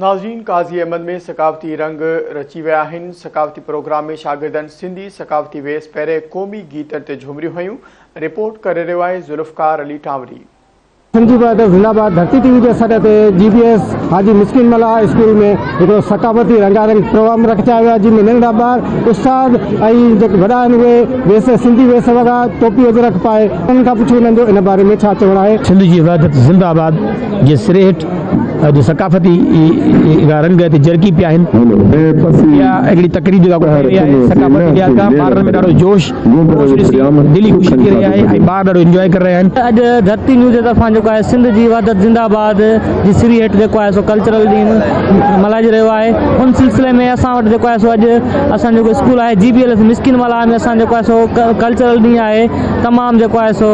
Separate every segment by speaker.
Speaker 1: ناظرين قاضي احمد ۾ ثقافتي رنگ رچي ويا آهن، ثقافتي پروگرام ۾ شاگردن سنڌي ثقافتي ويس پهري قومي گيتن تي جهومريون هنيون، رپورٽ ڪري رهيو آهي ذوالفقار علي ٽانوري. سنڌي بهادر
Speaker 2: زنده باد ڌرتي ٽي وي جي سڏ تي جي بي ايس حاجي مسڪين ملاح اسڪول ۾ هڪڙو ثقافتي رنگا رنگ پروگرام رکجايو ويو آهي جنهن ۾ ننڍڙا ٻار استاد ۽ جيڪي وڏا آهن اهي ويس سنڌي ويس وڳا ٽوپي اجرڪ پائي انهن کان پڇو انهن جو ان باري ۾ ڇا چوڻ آهي. سنڌ جي وحدت زنده
Speaker 3: آباد جي سري هيٺ اڄ ثقافتي اھڙا رنگ ھتي جرڪي پيا آھن. اھا ھڪڙي تقريب جيڪا ڪو ٿي رھي آھي ثقافتي لحاظ کان ٻارڙن ۾ ڏاڍو جوش جوش ڏسي دل ئي خوشي ٿي رھي آھي ۽ ٻار ڏاڍو انجواء ڪري رھيا آھن. اڄ ڌرتي نيوز جي
Speaker 4: طرفان جيڪو آھي سنڌ جي وحدت زنده آباد جي سري ھيٺ جيڪو آھي سو ڪلچرل ڏينھن ملھائجي رھيو آھي ان سلسلي ۾ اسان وٽ جيڪو آھي سو اڄ اسان جيڪو اسڪول آھي G B L S Miskeen Mallah ۾ اسان جيڪو آھي سو ڪلچرل ڏينھن آھي تمام جيڪو آھي سو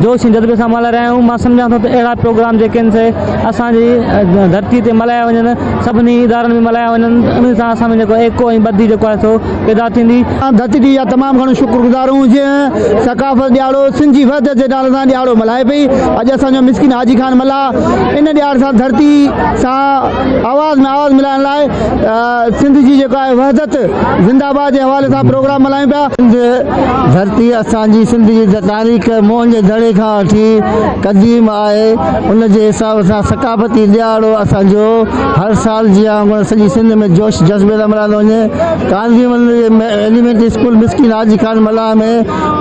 Speaker 4: جوش ۽ جذبي سان ملهائي رهيا آهيون، مان سمجهان ٿو ته اهڙا پروگرام جيڪي آهن سي اسان جي ڌرتي تي ملهايا وڃن، سڀني ادارن ۾ ملهايا وڃن، انهي سان اسان ۾ جيڪو ايڪو ۽ ٻڌي جيڪو آهي سو پيدا ٿيندي. اسان ڌرتي جي اها تمام
Speaker 2: گهڻو شڪر گذار آهيون جنهن ثقافت ڏيهاڙو سنڌ جي وحدت جي نالي سان ڏيهاڙو ملهائي پئي، اڄ اسان جو مسڪين حاجي خان ملاح ان ڏيهاڙي سان ڌرتي سان آواز ۾ آواز ملائڻ لاء سنڌ جي جيڪو آهي وحدت زنده آباد جي حوالي سان پروگرام ملهايون پيا. سنڌ ڌرتي اسان جي سنڌ جي تاريخ موهن جي دڙي کان وٺي قديم آهي ان جي حساب سان ثقافتي ڏيهاڙو اسان جو هر سال جيان وانگر سڄي سنڌ ۾ جوش جذبي سان ملهايندو وڃي ڪانڌيول ايليمينٽري اسڪول مسڪين حاجي خان ملاح ۾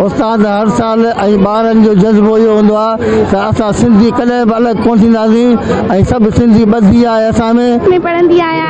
Speaker 2: استاد هر سال ۽ ٻارن جو جذبو اهو هوندو آهي ته اسان سنڌي ڪڏهن به الڳ ڪونه ٿينداسين ۽ سڀ سنڌي ٻڌي آهي اسان ۾.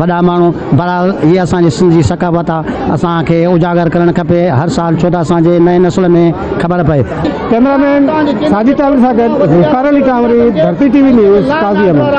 Speaker 5: وڏا ماڻهو، بهرحال هيء اسان جي سنڌ جي ثقافت آ، اسان کي اجاگر ڪرڻ کپي، هر سال ڇو ته اسان جي نئين نسل ۾ خبر پئي. ڪئميرا مين
Speaker 2: ساجد ٽالپر سان گڏ Zulfiqar Ali Kanwari, Dharti T V news, Qazi Ahmed.